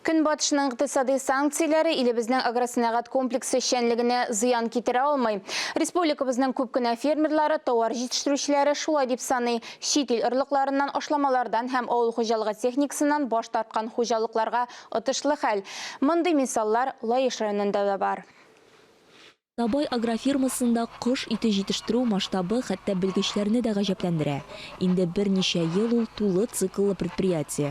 Көнбатышның икътисади санкцияләре илебезнең агросәнәгать комплексы эшчәнлегенә зыян китерә алмый. Республикабызның күп кенә фермерлары, тауар җитештерүчеләре шулай дип саный. Чит ил орлыкларыннан, ашламалардан һәм авыл хуҗалыгы техникасыннан баш тарткан хуҗалыкларга отышлы хәл. Мондый мисаллар Лаеш районында да бар. Табай агрофирмасында кош ите җитештерү масштабы хәтта белгечләрне дә гаҗәпләндерә. Инде берничә ел ул тулы цикллы предприятие.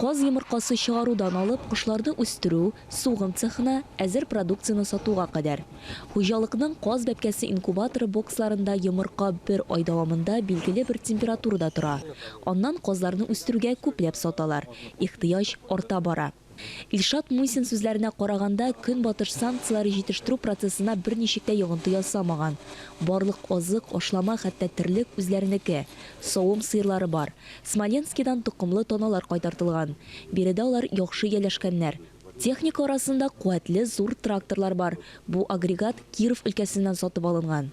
Каз йомыркасы чыгарудан алып кошларны үстерү, сугым цехына, әзер продукцияне сатуга кадәр. Хуҗалыкның каз бәбкәсе инкубаторы боксларында йомырка бер ай дәвамында билгеле бер температурада тора. Аннан казларны үстерүгә күпләп саталар. Ихтыяҗ арта бара. Илшат Мусин сүзләренә караганда, Көнбатыш санкцияләре җитештерү процессына берничек тә йогынты ясамаган. Барлык азык, ашлама, хәтта терлек үзләренеке. Савым сыерлары бар. Смоленскидан токымлы таналар кайтартылган. Биредә алар яхшы ияләшкәннәр. Техника арасында куәтле зур тракторлар бар. Бу агрегат Киров өлкәсеннән сатып алынган.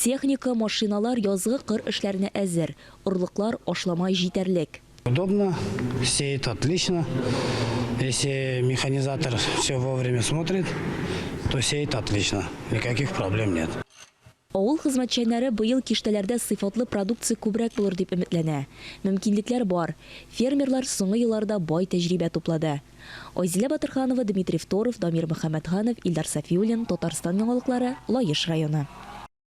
Техника, машиналар язгы кыр эшләренә әзер. Орлыклар, ашлама җитәрлек. Удобно, сеет отлично. Если механизатор все вовремя смотрит, то сеет отлично, никаких проблем нет. Авыл хезмәтчәннәре быел киштәләрдә сыйфатлы продукция күбрәк булыр дип өметләнә. Мөмкинлекләр бар. Фермерлар соңгы елларда бай тәҗрибә туплады. Айзилә Батырханова, Дмитрий Второв, Дамир Мөхәммәтханов, Илдар Сафиуллин, Татарстан яңалыклары, Лаеш районы.